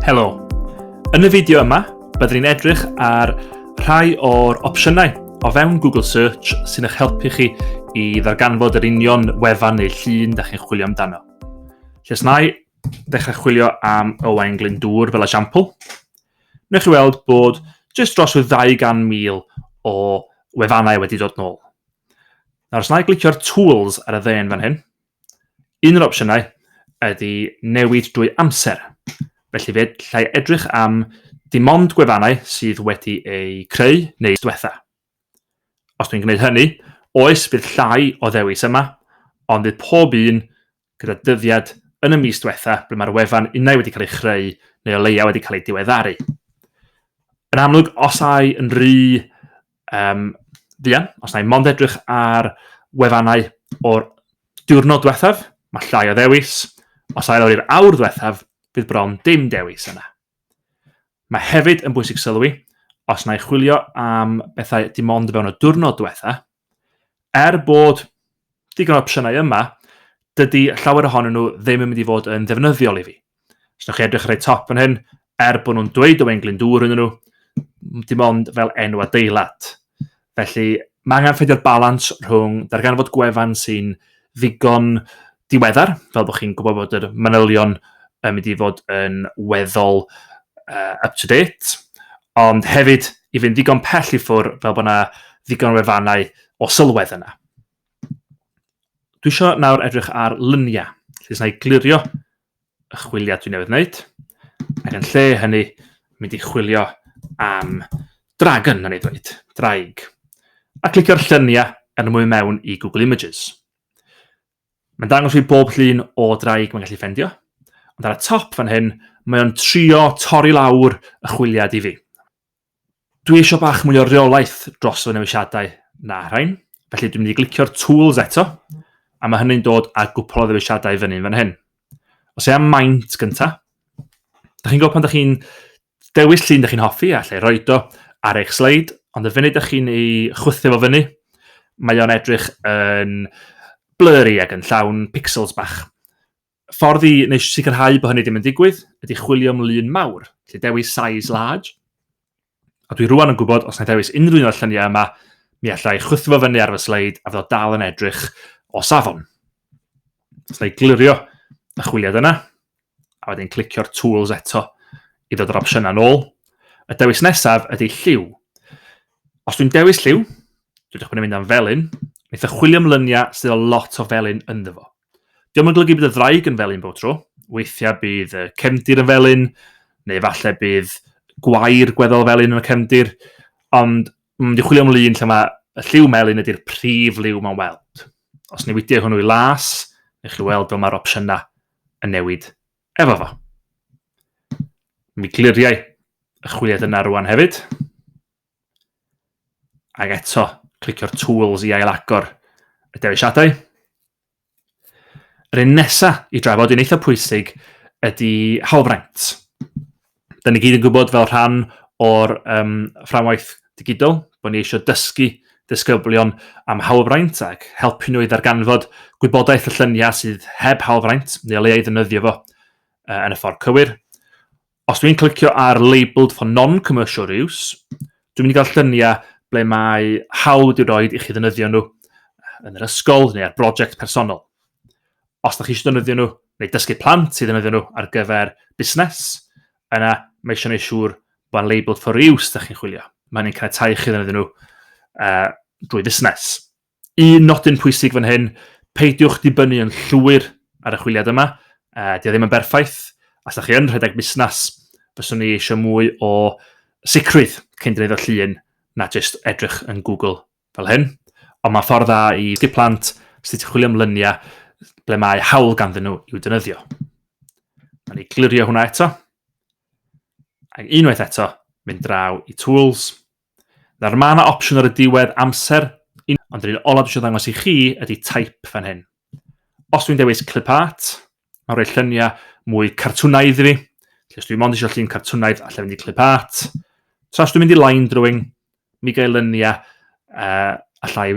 Helo! Yn y fideo yma, byddwn ni'n edrych ar rhai o'r opsiynau o fewn Google Search sy'n eich helpu chi i ddarganfod yr union wefan neu llun da chi'n chwilio amdano. Lle snau, ddechrau chwilio am Owain Glyndŵr fel esiampl, newch chi weld bod jyst dros y 200,000 o wefannau wedi dod nôl. Nawr, os na i glicio'r tools ar y ddên fan hyn, un o'r opsiynau ydy newid drwy amser. Felly fe llai edrych am dim ond gwefannau sydd wedi eu creu neu diwetha. Os dwi'n gwneud hynny, oes bydd llai o ddewis yma, ond bydd pob un gyda dyddiad yn y mis diwetha ble mae'r wefan unai wedi cael ei chreu neu o leia wedi cael ei diweddaru. Yn amlwg, os ai yn rhy um, fuan, os ai mond edrych ar wefannau o'r diwrnod diwethaf, mae llai o ddewis, os ai lawr i'r awr ddiwethaf, bydd bron dim dewis yna. Mae hefyd yn bwysig sylwi, os na chwilio am bethau dim ond fewn y diwrnod diwetha, er bod digon o opsiynau yma, dydy llawer ohonyn nhw ddim yn mynd i fod yn ddefnyddiol i fi. Os ydych chi edrych ar ei top yn hyn, er bod nhw'n dweud Owain Glyndŵr yn nhw, dim ond fel enw adeilad. Felly, mae angen ffeindio'r balans rhwng darganfod gwefan sy'n ddigon diweddar, fel bod chi'n gwybod bod yr manylion yn mynd i fod yn weddol uh, up-to-date, ond hefyd i fynd ddigon pell i ffwr fel bod yna ddigon o wefannau o sylwedd yna. Dwi eisiau nawr edrych ar lyniau, lle sy'n ei glirio y chwiliau dwi'n newydd wneud, ac yn lle hynny, mynd i chwilio am dragon, na ni ddweud, draig, a clicio'r lluniau yn ymwy mewn i Google Images. Mae'n dangos fi bob llun o draig mae'n gallu ffendio, ond ar y top fan hyn, mae o'n trio torri lawr y chwiliad i fi. Dwi eisiau bach mwy o reolaeth dros fy newisiadau na rhain, felly dwi'n mynd i glicio'r tools eto, a mae hynny'n dod â gwpl o ddewisiadau fyny'n fan hyn. Os e am maint gyntaf, da chi'n gwybod pan da chi'n Dewis llun dych chi'n hoffi a lle roed o ar eich sleid, ond y funud dych chi'n ei chwythu fo fyny, mae o'n edrych yn blurry ac yn llawn pixels bach. Ffordd i neu sicrhau bod hynny ddim yn digwydd ydy chwilio am lun mawr, lle dewis size large, a dwi rwan yn gwybod os na dewis unrhyw un o'r lluniau yma, mi allai chwythu fo fyny ar fy sleid a fyddo dal yn edrych o safon. Os na i glirio y chwiliad yna, a wedyn clicio'r tools eto i ddod yr opsiynau nôl. Y dewis nesaf ydy lliw. Os dwi'n dewis lliw, dwi'n dechrau mynd am felyn, wneud y chwilio am lyniau sydd o lot o felyn ynddo fo. Diolch yn golygu bydd y ddraig yn felyn bod tro, weithiau bydd y cefndir yn felyn, neu falle bydd gwair gweddol felyn yn y cefndir, ond Mae wedi chwilio am lun lle mae y lliw melyn ydy'r prif liw mae'n weld. Os newidiau hwnnw i las, neu chi weld fel mae'r opsiynau yn newid efo fo. Mi gliriau y chwiliad yna rwan hefyd. Ac eto, clicio'r tools i ailagor y dewisiadau. Yr un nesaf i drafod yn eitha pwysig ydy hawlfraint. Da ni gyd yn gwybod fel rhan o'r um, fframwaith digidol bod ni eisiau dysgu disgyblion am hawlfraint ac helpu nhw i ddarganfod gwybodaeth y lluniau sydd heb hawlfraint neu le ei ddefnyddio fo uh, yn y ffordd cywir. Os dwi'n clicio ar labelled for non-commercial use, dwi'n mynd i gael lluniau ble mae hawl wedi rhoi i chi ddynyddio nhw yn yr ysgol neu ar brosiect personol. Os ydych chi eisiau ddynyddio nhw neu dysgu plant i ddynyddio nhw ar gyfer busnes, yna mae eisiau gwneud siŵr bod yn labelled for use ydych chi'n chwilio. Mae hynny'n caniatáu chi ddynyddio nhw uh, drwy fusnes. Un nodyn pwysig fan hyn, peidiwch dibynnu yn llwyr ar y chwiliad yma, e, di ddim yn berffaith, os da chi yn rhedeg busnes, fyswn ni eisiau mwy o sicrwydd cyn dweud o llun na jyst edrych yn Google fel hyn. Ond mae'n ffordd dda i sgip plant sydd wedi chwilio am lyniau ble mae hawl ganddyn nhw i'w dynyddio. Mae'n ei glirio hwnna eto. Ac unwaith eto, mynd draw i tools, Nawr mae yna opsiwn ar y diwedd amser, ond yr un olaf dwi eisiau ddangos i chi ydy type fan hyn. Os dwi'n dewis clip art, mae'n rhoi lluniau mwy cartwnaidd i fi. Felly os dwi'n mond eisiau llun cartwnaidd, allai fynd i clip art. Tra os dwi'n mynd i line drawing, mi gael lyniau uh, allai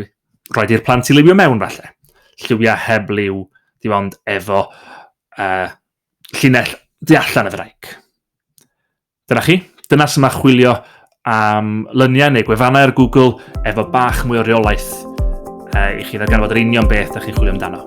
roed i'r plant i liwio mewn falle. Lliwiau heb liw, di ond efo uh, llinell di allan y ddraig. Dyna chi, dyna sy'n mae chwilio am lyniau neu gwefannau ar Google efo bach mwy o reolaeth uh, i chi ddarganfod yr union beth ydych chi'n chwilio amdano.